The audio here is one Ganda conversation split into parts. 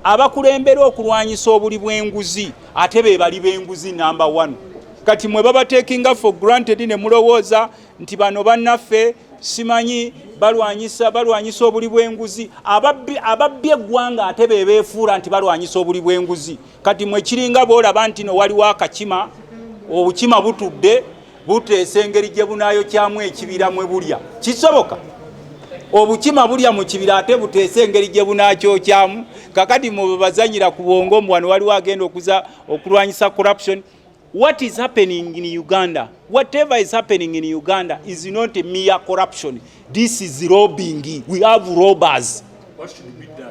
abakulembera okulwanyisa obuli bw'enguzi ate be bali b'enguzi namba one kati mwe babatekinga for granted ne mulowooza nti bano bannaffe simanyi balwanyisa balwanyisa obuli bw'enguzi ababbi ababbi eggwanga ate be beefuula nti balwanyisa obuli bw'enguzi kati mwe kiringa boolaba nti no waliwo akakima obukima butudde buteesa engeri gye bunaayokyamu ekibira mwe bulya kisoboka obukima bulya mu kibira ate buteesa engeri gye bunaakyokyamu kakati mubebazanyira ku bwongo mbu wano waliwo agenda okuza okulwanyisa corruption what is happening in uganda whatever is happening in uganda is not mere corruption this is robbing we have robbers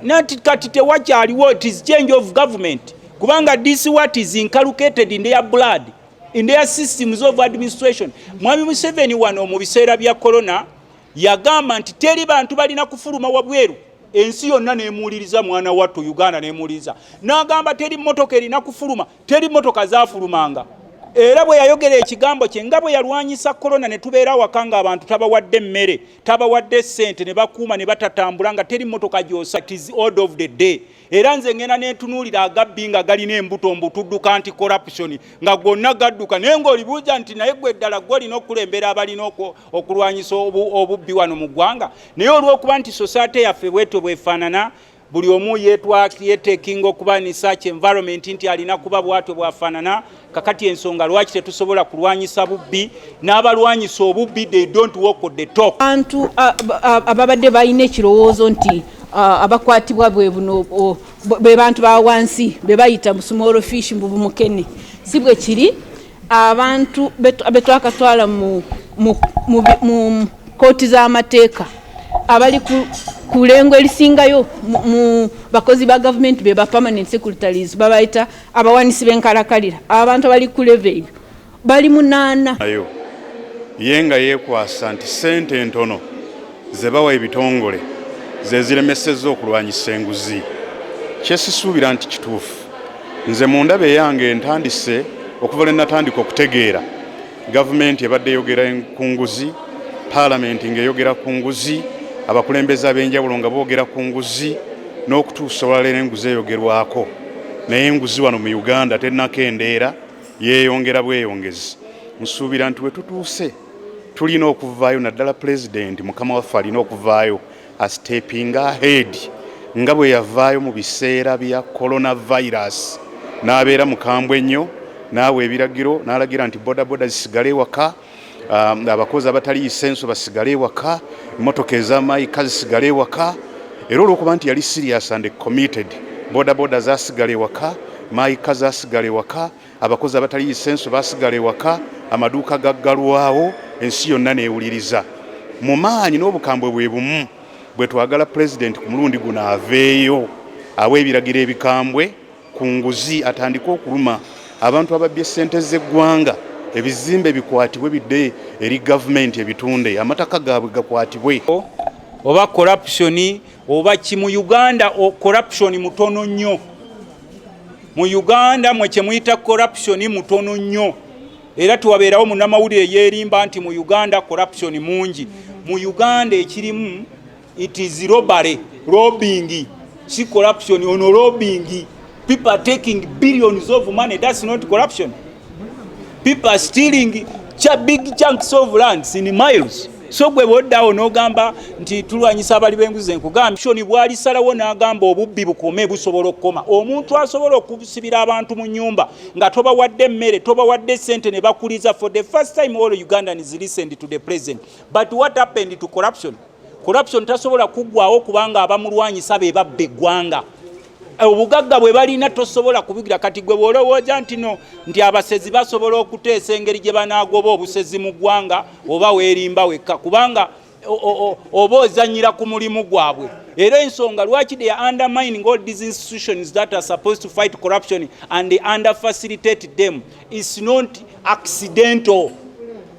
nati kati tewakyaliwo it is change of government kubanga this what is inculcated in their blood in their systems of administration mwami museveni wano mu biseera bya corona yagamba nti teri bantu balina kufuluma wabweru ensi yonna nemuwuliriza mwana wattu uganda nemuwuliriza n'agamba teri mmotoka erina kufuluma teri mmotoka zafulumanga era bwe yayogera ekigambo kye nga bwe yalwanyisa korona ne tubeera awaka nga abantu tabawadde emmere tabawadde ssente ne bakuuma ne batatambula nga teri mmotoka gyosa tis ord of the day era nze ngenda nentunuulira agabbi nga galina embuto mbu tudduka nti corruption nga gonna gadduka naye ng'olibuuza nti naye gwe ddala gwe olina okulembera abalina okulwanyisa obubbi wano mu ggwanga naye olw'okuba nti sosaate yaffe bwetyo bwefaanana buli omu yetwaki yetekinga okuba ni such environment nti alina kuba bwatyo bwafaanana kakati ensonga lwaki tetusobola kulwanyisa bubbi n'abalwanyisa obubbi they don't walk on the talk bantu ababadde balina ekirowoozo nti abakwatibwa bwe buno be bantu ba wansi be bayita small fish mbu bumukene si bwe kiri abantu betwakatwala mu kooti z'amateeka abali ku lengo erisingayo mu bakozi ba gavumenti be ba permanent secretaries babayita abawanisi b'enkalakalira abantu abali ku leve eyo bali munaana ayo ye nga yeekwasa nti ssente entono ze bawa ebitongole ze ziremesezza okulwanyisa enguzi kyesisuubira nti kituufu nze mu ndaba eyange ntandise okuva lwe natandika okutegeera Gavumenti ebadde eyogera ku nguzi, paalamenti ng'eyogera ku nguzi, abakulembeze ab'enjawulo nga boogera ku nguzi n'okutuusa olwaleero enguzi eyogerwako naye enguzi wano mu Uganda tennakendeera yeeyongera bweyongezi. Nsuubira nti we tutuuse tulina okuvaayo naddala pulezidenti mukama waffe alina okuvaayo Astepinga ahead nga bwe yavaayo mu biseera bya coronavirus n'abeera mukambwe ennyo n'awa ebiragiro n'alagira nti bodaboda zisigale ewaka, um, abakozi abatali isenso basigale ewaka, emmotoka ez'amaayika zisigale ewaka era olw'okuba nti yali serious and committed bodaboda zasigala ewaka maayika zasigala ewaka Abakozi abatali yisenso basigala ewaka, amaduuka gaggalwawo, ensi yonna n'ewuliriza. Mu maanyi n'obukambwe bwe bumu bwe twagala Pulezidenti ku mulundi guno aveeyo awe ebiragiro ebikambwe ku nguzi, atandike okuluma abantu ababbye ssente z'eggwanga, ebizimbe bikwatibwe bidde eri Gavumenti ebitunde, amataka gaabwe gakwatibwe. Oba corruption oba ki mu Uganda corruption mutono nnyo. mu uganda mwe kyemuyita corruption mutono nnyo era tiwabeerawo munamawulire yeerimba nti mu uganda corruption mungi mu uganda ekirimu it is robbery robbing si corruption ono robbing people are taking billions of money that's not corruption people are stealing cha big chunks of lands in miles so gwe bwoddawo n'ogamba nti tulwanyisa abali b'enguzi enkugambye shoni bwalisalawo n'agamba obubbi bukome busobola okukoma omuntu asobola okusibira abantu mu nyumba nga tobawadde emmere tobawadde sente ne bakuliza for the first time all ugandan is listened to the president but what happened to corruption corruption tasobola kuggwawo kubanga abamulwanyisa be babba eggwanga Eh, obugagga bwe balina tosobola kubigira kati gwe bwolowooza nti no nti abasezi basobola okuteesa engeri gye banaagoba obusezi mu ggwanga oba weerimba wekka kubanga oba ozanyira ku mulimu gwabwe era ensonga lwaki they are undermining all these institutions that are supposed to fight corruption and they under facilitate them is not accidental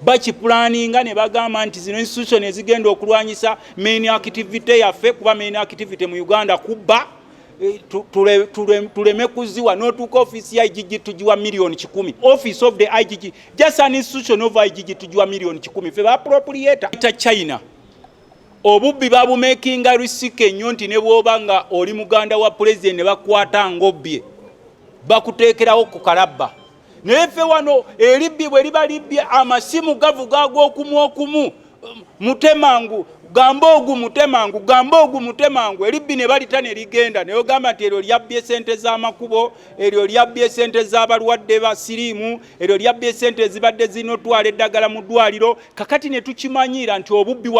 bakipulaninga ne bagamba nti zino institution ezigenda okulwanyisa main activity yaffe kuba main activity mu Uganda kubba eh, tuleme kuziwa notuuka office ya igg tugiwa million kikumi office of the igg just an institution of igg tugiwa million kikumi fe bapropriator ta china obubbi babumakinga risika ennyo nti ne bwoba nga oli muganda wa president ne bakwata ngobbye bakuteekerawo ku kalabba naye ffe wano eribbi bwe liba libbi amasimu gavuga ag'okumu okumu mutemangu gamba ogu mutemangu gamba ogu mutemangu eribbi ne balita ne ligenda naye ogamba nti eryo lyabbye esente z'amakubo eryo lyabbye esente z'abalwadde ba siriimu eryo lyabbye esente ezibadde zirina otwala eddagala mu ddwaliro kakati ne tukimanyiira nti obubbi wano